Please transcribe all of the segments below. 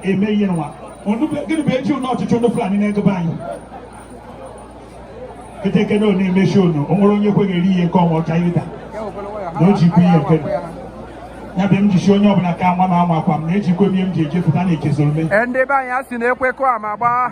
eme ihe nwa gịnị bụ eji ụlọ ọchịchị ụlọ Fulani na-egobe anyị ketekede ọ na-emechi ọnụ o nwere onye kweghị eri ihe nke ọnwa ọcha ịda na o jikwa ihe nke ya bụ m ji sị onye ọbụla ka nwa m anwakwa m na ejikwa m ihe m ji ejepụta na echezoro me ndị be anyị a sị na ekwe kụọ ama gbaa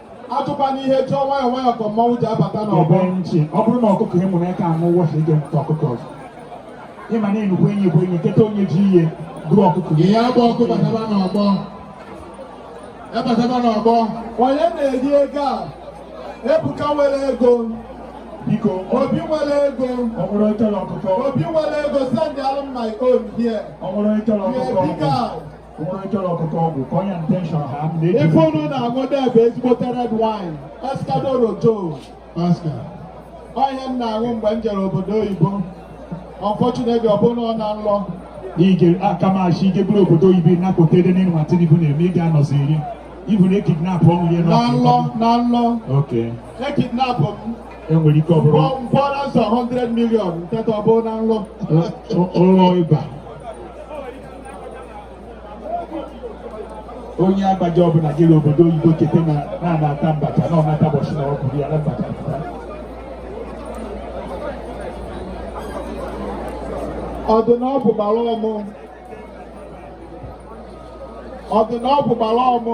atụkwana ihe jụọ nwayọ nwayọ ka mmanwụ ji abata n'ọgbọ nchi ọ bụrụ na ọkụkọ ị mụrụ aka amụ wọsị ije mụta ọkụkọ ọzọ ị ma na nnukwu enyi ka enyi kịta onye ji ihe bụrụ ọkụkọ ihe agba ọkụ bataba n'ọgbọ ebataba n'ọgbọ onye na-eri ego a ebuka nwere ego biko obi nwere ego ọ bụrụ ịchọrọ ọkụkọ obi nwere ego send alụ m my own here ọ bụrụ ịchọrọ ọkụkọ ọgwụ ife unu na-aṅụ bụ ezigbote red wine escadoro jo ọ ihe m na-aṅụ mgbe m jere obodo oyibo unfortunately ọ bụrụ na ọ n'ụlọ ige akamashi ige bụrụ obodo oyibo nakpọta ede n'elu ma tinubu na-eme ị ga-anọzi iri ibu na ekidnap ọnwụ ya n'ụlọ n'ụlọ ekidnap m e nwere ike ọ bụrụ m kwụọ ransom 100 million nketa ọbụ na nlọ ụlọ ịba onye agbaji ọbụla jere obodo oyibo cheta na na-anata mbacha na ọnata ụbọchị na ọ bụrụ ya na mbacha ọdụ na ọ bụ gbara ọmụ ọdụ na ọ bụ gbara ọmụ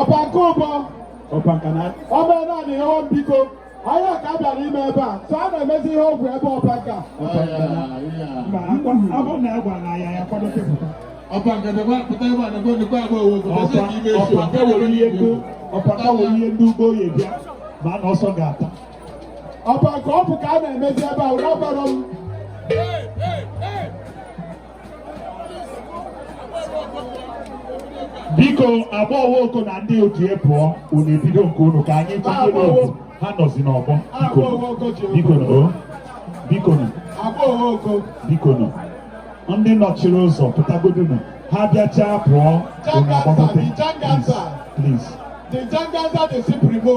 ọba nke ụbọ ọba nke na ọba ebe a na-enye nwa m biko onye ka a bịara ime ebe a so a na-emezi ihe ọ bụ ebe ọba nke a ọba nke na ma akwa ọ bụrụ na a gwara na ya ya kwado kepụta ọba nke na gwa pụta ebe a na gwa nnukwu agba owo bụ ọba ọba nke were ihe ndị ọba nke were ihe ndị ugbo ya bịa ma na ọsọ ga-ata ọba nke ọ bụ ka a na-emezi ebe a ụra bara m biko agba owo oko na ndị otu ya pụọ unu ebido nke unu ka anyị chọta n'otu ha nọzi n'ọgbọ bikonu bikonu bikonu ndị nọchiri ụzọ pụtagodonu ha bịachaa pụọ unu agbagote please. The Janganza, the Supremo.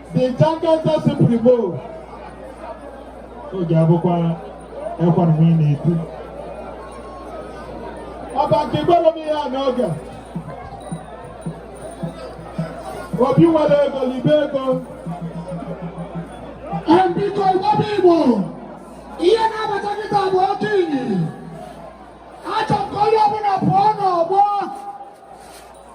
the Janganza Supremo oge abụkwa ekwa na nwunye na-eti ọba nke gbara m ihe a n'oge Obi nwere ego libe ego biko ịgbaba igbo ihe na-abata kịta bụ oke enyi achọ m ka onye ọbụla pụọ n'ọgbọ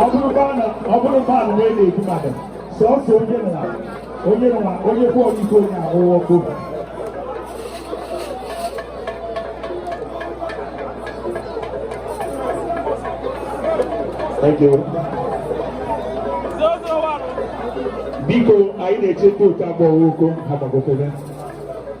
ọ bụrụ mmadụ wee na-egbu mmadụ sọsọ onye nwa onye nwa onye bụ ọ dịka onye ahụhụ ọkụ biko anyị na-echekwa otu agbọghọ Oko ha gbagotere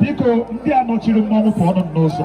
biko ndị a nọchiri mmọnwụ pụọnụ n'ụzọ